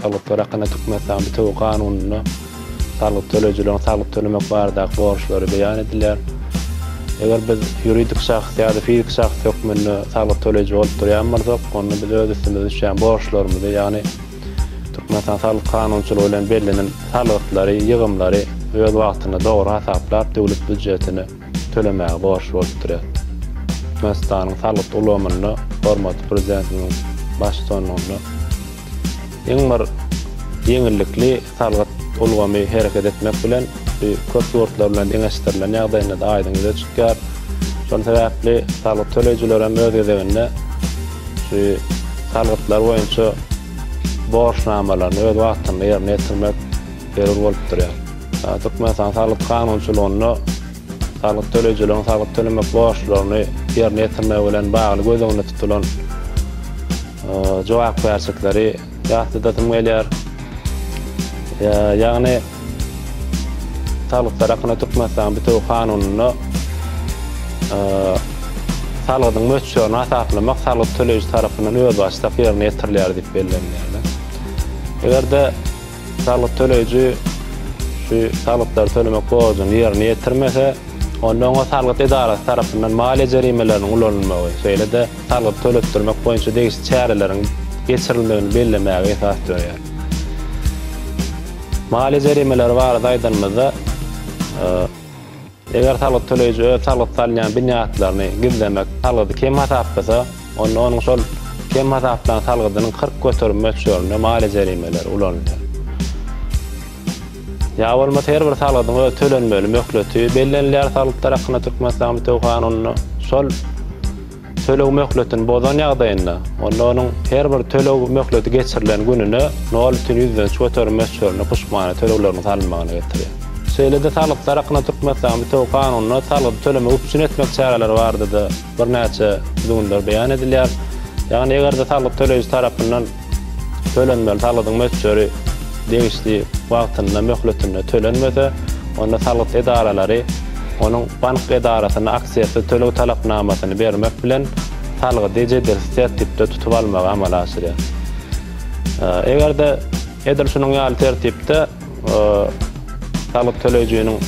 Salgytlar hakynda Türkmenistanyň bitewi kanunynda salgyt töleýjileriň salgyt tölemek baradaky borçlary beýan edilýär. Eger biz ýuridik şahs ýa-da fizik şahs hökmünde salgyt töleýji bolup durýan bolsak, onda biz öz üstümize düşýän borçlarymyzy, ýagny Türkmenistanyň salgyt kanunçylygy bilen bellenen salgytlary, ýygymlary öz wagtynda dogry hasaplap, döwlet býujetine tölemäge borçly bolup durýar. Türkmenistanyň salgyt ulgamynda hormatly Prezidentimiziň baştutanlygynda iň bir ýeňillikli salgyt ulgamy hereket etmek bilen, bu köp ýurtlar bilen deňeşdirilen ýagdaýynda-da aýdyň ýüze çykýar. Şol sebäpli salgyt töleýjiler hem öz gezeginde şu salgytlar boýunça borçnamalaryny öz wagtynda ýerine ýetirmek zerur bolup durýar. Türkmenistanyň salgyt kanunçylygynda salgyt töleýjileriň salgyt tölemek borçlaryny ýerine ýetirmegi bilen bagly göz öňünde tutulan jogapkärçilikleri ýatladasym gelýär. Ýagny, salgytlar hakynda Türkmenistanyň bitewi kanunynda salgydyň möçberini hasaplamak salgyt töleýji tarapyndan özbaşdak ýerine ýetirilýär diýip bellenilýär. Eger-de Salgyt töleýji şu salgytlary tölemek borjuny ýerine ýetirmese, onda oňa salgyt edarasy tarapyndan maliýe jerimeleriniň ulanylmagy, şeýle-de salgyt töletdirmek boýunça degişli çäreleriň geçirilmegini bellemäge esas dörýär. Maliýe jerimeleri barada aýdanymyzda, Eger salgyt töleýji öz salgyt salýan binýatlaryny gizlemek salgydy kem hasaplasa, onda onuň şol kem hasaplan salgydynyň kyrk göterim möçberinde maliýe jerimeleri ulanylýar. Ýa bolmasa her bir salgydyň öz tölenmeli möhleti bellenilýär Salgytlar hakynda Türkmenistan Bitew Kanunynda. Şol. Töleg möhletini bozan ýagdaýynda, onda onuň her bir töleg möhleti geçirilen gününe nol ütin ýüzlenç göterim möçberinde puştmana tölegleriniň salynmagyna getirýär. Şeýle-de salgytlar hakynda Türkmenistanyň bitewi kanunynda salgydy tölemegi üpjün etmek çäreleri barada-da birnäçe düzgünler beýan edilýär. Ýagny eger-de salgyt töleýji tarapyndan, Tölenmeli salgydyň möçberi degişli wagtynda, möhletinde tölenmese, onda salgyt edaralary onuň bank edarasyna aksiýasyz töleg talapnamasyny bermek bilen, salgydy jedilsiz tertipde tutup almagy amala aşyrýar. Eger-de edil şunuň ýaly tertipde, Salyk töleýjiniň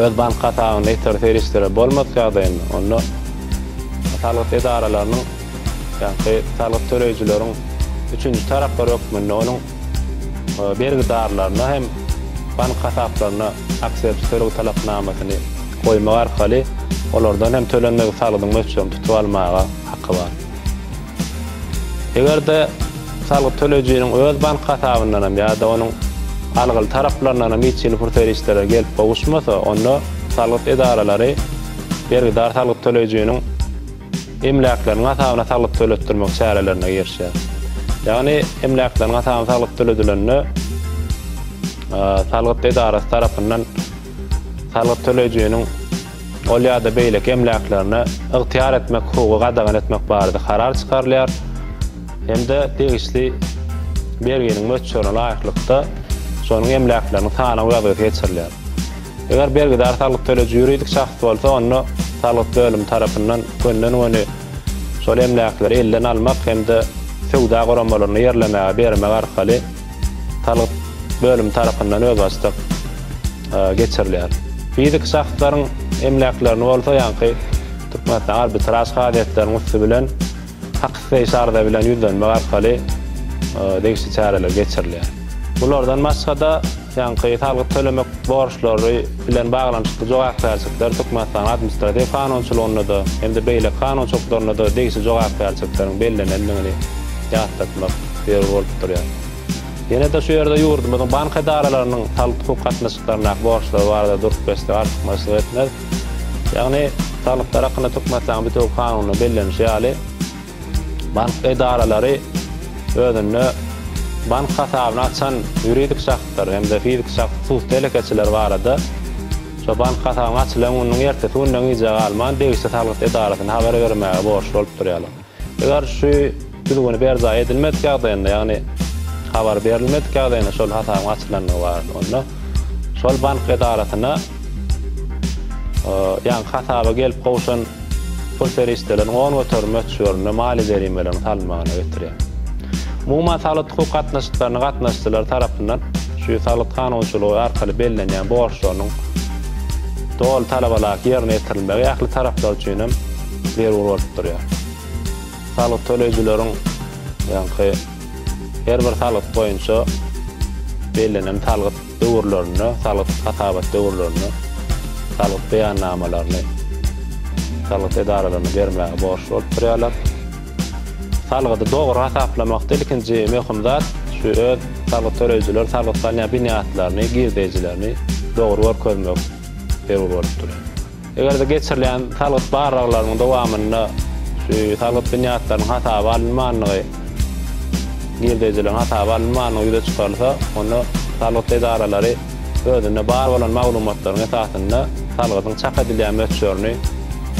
öz bank hasabynda ýitgili serişdeler bolmadyk ýagdaýynda, onda salyk edaralarynyň, ýagny salyk töleýjileriň üçünji taraplar hökmünde onuň bergidarlaryna hem bank hasaplaryna aksiýaçy töleg talapnamasyny goýmak arkaly olardan hem tölenmedik salgydyň möçberini tutup almaga haky bar. Eger-de salgyt töleýjiniň öz bank hasabyndanam ýa-da onuň algyly taraplaryndanam hiç hili pul serişdeleri gelip gowuşmasa, onda salgyt edaralary bergidar salgyt töleýjiniň emläkleriniň hasabyna salgyt töletdirmek çärelerine girişýär. Ýagny emläkleriň hasabyna salgyt töledilende salgyt edarasy tarapyndan salgyt töleýjiniň ol ýa-da beýleki emläklerine ygtyýar etmek hukugy gadagan etmek barada karar çykarylýar hem-de degişli berginiň möçberine laýyklykda şonuň emläkleriniň sanaw ýazgysy geçirilýär. Eger bergidar salgyt töleýji ýuridik şahs bolsa, onda salgyt bölümi tarapyndan gönden-göni şol emläkleri elden almak hem-de söwda guramalarynda ýerlemäge bermek arkaly Salyk bölümi tarapyndan özbaşdak geçirilýär. Fiziki şahslaryň emläklerini bolsa ýaňky Türkmenistan arbitraž kazyýetleriniň üsti bilen hak isleýiş arza bilen ýüzlenmek arkaly degişli çäreler geçirilýär. Bulardan başga-da, ýaňky salgyt tölemek borçlary bilen baglanyşykly jogapkärçilikler Türkmenistanyň administratiw kanunçylygynda-da hem-de beýleki kanunçylyklarynda-da degişli jogapkärçilikleriň bellenendigini ýatlatmak ýeri bolup durýar. Ýene-de şu ýerde ýurdumyzyň bank edaralarynyň salik-hukuk gatnaşyklaryndaky borçlary barada durup geçsek artykmaçlyk etmez. Ýagny, salyklar hakynda Türkmenistanyň bitewi Kanunynda bellenişi ýaly, bank edaralary özünde bank hasabyny açan ýuridik şahslar hem-de fiziki şahs hususy telekeçiler barada şu bank hasabynyň açylan gününiň ertesi gününe gijä galman degişli salgyt edarasyna habar bermäge borçly bolup durýarlar. Eger şu düzgüni berjaý edilmedik ýagdaýynda, ýagny habar berilmedik ýagdaýynda şol hasabyň açylandygy barada, onda şol bank edarasyna ýa hasaba gelip gowşan pul serişdeleriniň on göterim möçberinde maliýe jerimeleriniň salynmagyna getirýär. Umuman, saglyk-hukuk gatnaşyklaryna gatnaşyjylar tarapyndan şu saglyk kanunçylygy arkaly bellenýän borçlarynyň doly talabalaýyk ýerine ýetirilmegi ähli taraplar üçin hem zerur bolup durýar. Salyk töleýjileriň, ýaňky her bir salgyt boýunça bellenen salgyt döwürlerinde, salgyt hasabat döwürlerinde salgyt beýannamalaryny salgyt edaralaryna bermäge borçly bolup durýarlar. Salgydy dogry hasaplamakda ilkinji möhüm zat, şu öz salgyt töleýjiler salgyt salýan binýatlaryny, girdeýjilerini dogry görkezmek zerur bolup durýar. Eger-de geçirilýän salgyt barlaglarynyň dowamynda şu salgyt binýatlarynyň hasaba alynmandygy, girdeýjileriň hasaba alynmandygy ýüze çykarylsa, onda salgyt edaralary özünde bar bolan maglumatlaryň esasynda salgydyň çak edilýän möçberini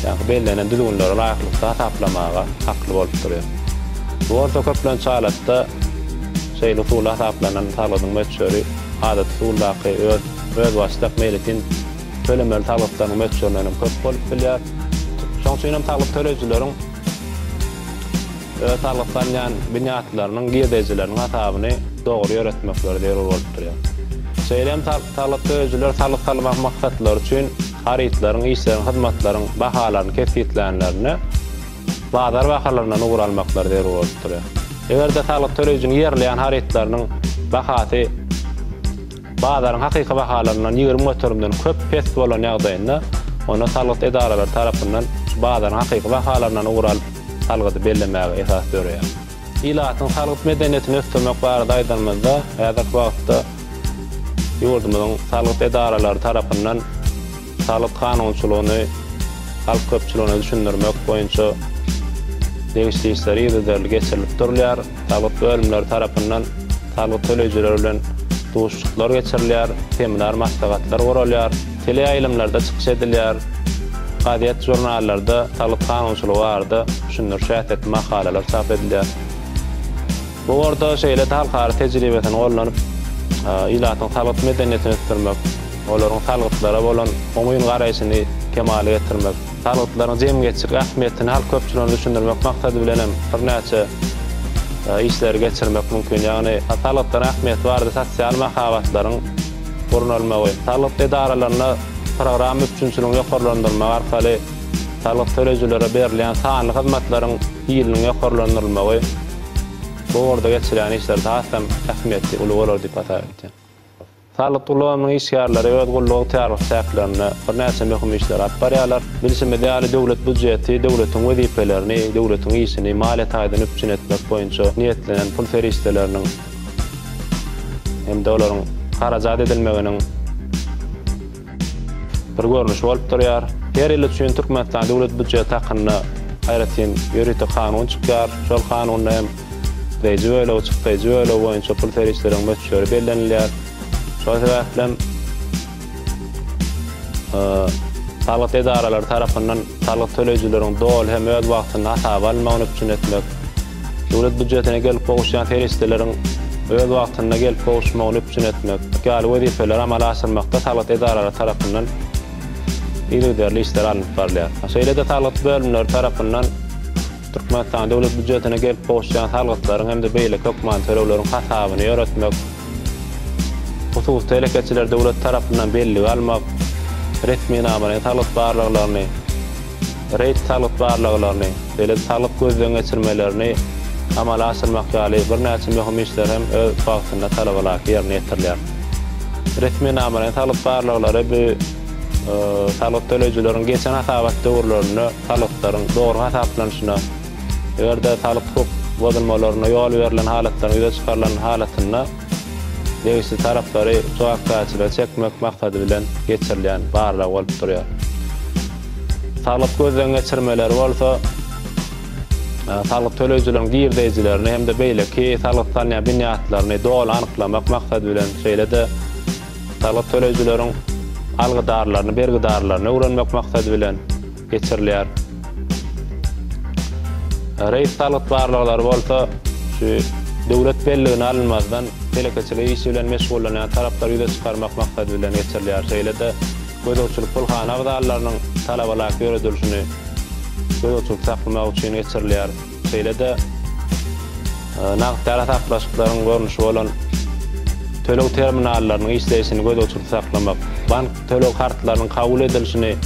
ýa-da bellenen düzgünlere laýyklykda hasaplamaga hakly bolup durýar. Bu bolsa köplenç halatda şeýle usulda hasaplanan salgydyň möçberi adaty usuldaky öz özbaşdak meýletin Tölemeli salgytlaryň möçberinden hem köp bolup bilýär. Şonuň üçin hem salgyt töleýjileriň öz salgytlanýan binýatlarynyň girdejileriniň hasabyny dogry ýöretmekleri zerur bolup durýar. Şeýle hem salgyt töleýjiler salgyt salmak maksatlary üçin harytlaryň, işleriň, hyzmatlaryň bahalaryny kesgitlänlerinde bazar bahalaryndan ugur almaklary zerur bolup durýar. Eger-de salgyt töleýjiniň ýerleýän harytlarynyň bahasy, Bazaryň hakyky bahalaryndan ýigrimi göterimden köp pes bolan ýagdaýynda, onda salgyt edaralary tarapyndan bazaryň hakyky bahalaryndan ugur alyp, salgydy bellemäge esas döreýär. Ilatyň salgyt medeniýetini ösdürmek barada aýdanymyzda, häzirki wagtda ýurdumyzyň salgyt edaralary tarapyndan, Salyk kanunçylygyny halk köpçüligine düşündirmek boýunça degişli işler yzygiderli geçirilip durulýar. Salyk bölümleri tarapyndan salgyt töleýjiler bilen duşuşyklar geçirilýär, seminar maslahatlar guralýar, teleýaýlymlarda çykyş edilýär, gazet-žurnallarda salyk kanunçylygy barada düşündiriş häsiýetli makalalar çap edilýär. Bu ugurda şeýle-de halkara tejribesini gollanip, ilatyň salgyt medeniýetini ösdürmek, olaryň salgytlara bolan oňyn garaýşyny kemala getirmek, salgytlaryň jemgyýetçilik ähmiýetini halk köpçüligine düşündirmek maksady bilen hem birnäçe işleri geçirmek mümkin. Ýagny salgytlaryň ähmiýeti barada sosial mahabatlaryň gurnalmagy, salgyt edaralarynda programma üpjünçiligini ýokarlandyrmak arkaly salgyt töleýjilere berilýän sanly hyzmatlaryň hiliniň ýokarlandyrylmagy, Bu ugurda geçirýän işleri has-da ähmiýetli, uly bolar diýip hasap edýän. Salgyt ulgamynyň işgärleri öz gulluk ygtyýarlyk çäklerinde birnäçe möhüm işleri alyp barýarlar. Bilşimiz ýaly, döwlet býujeti döwletiň wezipelerini, döwletiň işini maliýe taýdan üpjün etmek boýunça niýetlenen pul serişdeleriniň hem-de olaryň harajat edilmeginiň, bir görnüşi bolup durýar. Her ýyl üçin Türkmenistanyň Döwlet býujeti hakynda aýratyn ýörite kanun çykýar. Şol kanunda hem gireýji bölegi, çykdaýjy bölegi boýunça pul serişdeleriň möçberi bellenilýär. Şol sebäplem salgyt edaralary tarapyndan salgyt töleýjileriň doly hem öz wagtynda hasaba alynmagyny üpjün etmek, Döwlet býujetine gelip gowuşýan serişdeleriň öz wagtynda gelip gowuşmagyny üpjün etmek ýaly wezipeleri amala aşyrmakda salgyt edaralary tarapyndan yzygiderli işler alnyp barylýar. Şeýle-de salgyt bölümleri tarapyndan Türkmenistanyň Döwlet býujetine gelip gowuşýan salgytlaryň hem-de beýleki hökmany tölegleriň hasabyny ýöretmek, hususy telekeçileri döwlet tarapyndan bellige almak, resminamalaýyn salgyt barlaglaryny, Reýd salgyt barlaglaryny, beýleki salgyt gözden geçirmelerini amala aşyrmak ýaly birnäçe möhüm işler hem öz wagtynda talabalaýyk ýerine ýetirilýär. Resminamalaýyn salgyt barlaglary bu salgyt töleýjileriň geçen hasabat döwürlerinde salgytlaryň dogry hasaplanyşyna, eger-de salgyt hukuk bozulmalaryna ýol berlen halatlaryň ýüze çykarylan halatynda degişli taraplary jogapkärçilige çekmek maksady bilen geçirilýän barlag bolup durýar. Saglyk gözden geçirmeleri bolsa saglyk töleýjileriň girdeýjilerini hem-de beýleki salgyt salynýan binýatlaryny doly anyklamak maksady bilen, şeýle-de saglyk töleýjileriň algydarlaryny, bergidarlaryny öwrenmek maksady bilen geçirilýär. Reýs salgyt barlaglary bolsa şu döwlet belligine alynmazdan telekeçilik işi bilen meşgullanýan taraplar ýüze çykarmak maksady bilen geçirilýär. Şeýle-de Gözegçilik pulhana abzallarynyň talabalaýyk ýöredilişini gözegçilikde saklamak üçin geçirilýär. Şeýle-de nagt arasatlaşyklaryň görnüşi bolan töleg terminallarynyň işleýşini gözegçilikde saklamak, bank töleg kartlarynyň kabul edilişini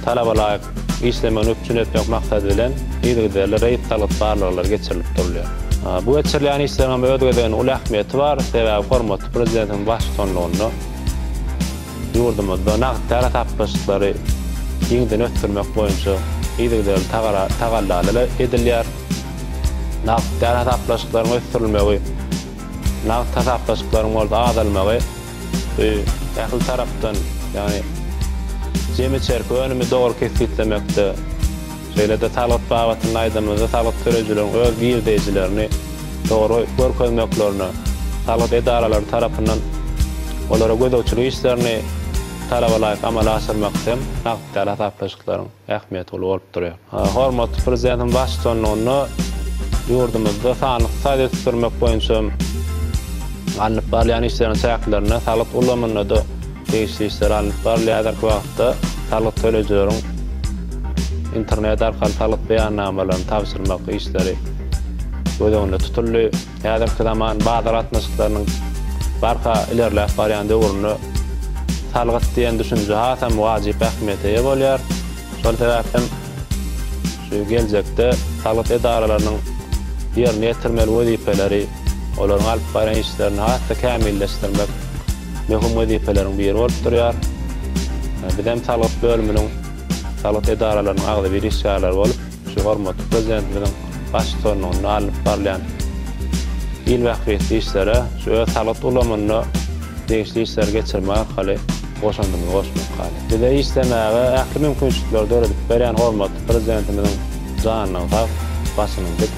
talabalaýyk işlemegini üpjün etmek maksady bilen, yzygiderli reýd salgyt barlaglary geçirilip durulýar. Bu geçirilýän işleriň hem öz gezeginde uly ähmiýeti bar, sebäbi hormatly Prezidentimiziň baştutanlygynda, Ýurdumyzda nagt-para tapgyryşyklary giňden ösdürmek boýunça yzygiderli tagallalar edilýär. Nagt-para hasaplaşyklaryň ösdürilmegi, nagt hasaplaşyklaryň bolsa azalmagy ähli tarapdan, ýagny jemi içerki önümi dogry kesgitlemekde, Şeýle-de salgyt babatynda aýdanymyzda salgyt töleýjileriň öz girdeýjilerini dogry görkezmeklerine, salgyt edaralary tarapyndan olara gözegçilik işlerini talabalaýyk amala aşyrmak hem nagt däl hasaplaşyklaryň ähmiýeti uly bolup durýar. Hormatly Prezidentimiz baştutanlygynda ýurdumyzda sanly ykdysady ösdürmek boýunça alnyp barylýan işleriň çäklerinde salgyt ulgamynda-da, Degişli işler alnyp barylýar häzirki wagtda. Salgyt töleýjileriň internet arkaly salgyt beýannamalaryny tabşyrmak işleri göz öňünde tutuldy. Häzirki zaman bazar gatnaşyklarynyň barha ilerläp barýan döwründe salgyt diýen düşünje hasam wajyp ähmiýete eýe bolýar. Şol sebäpli hem şu geljekde salgyt edaralarynyň ýerine ýetirmeli wezipeleri, olaryň alyp barýan işlerini has-da kämilleşdirmek, möhüm wezipeleriň biri bolup durýar. Biz hem salgyt bölüminiň, salgyt edaralarynyň agzybir işgärleri bolup, şu hormatly Prezidentimiziň baş tutanlygynda alnyp barylýan il bähbitli işlere, şu öz salgyt ulgamynda degişli işleri geçirmek arkaly goşandymyzy goşmak haly. Bize işlemäge ähli mümkinçilikleri döredip berýän hormatly Prezidentimiziň janynyň sag, başynyň dik.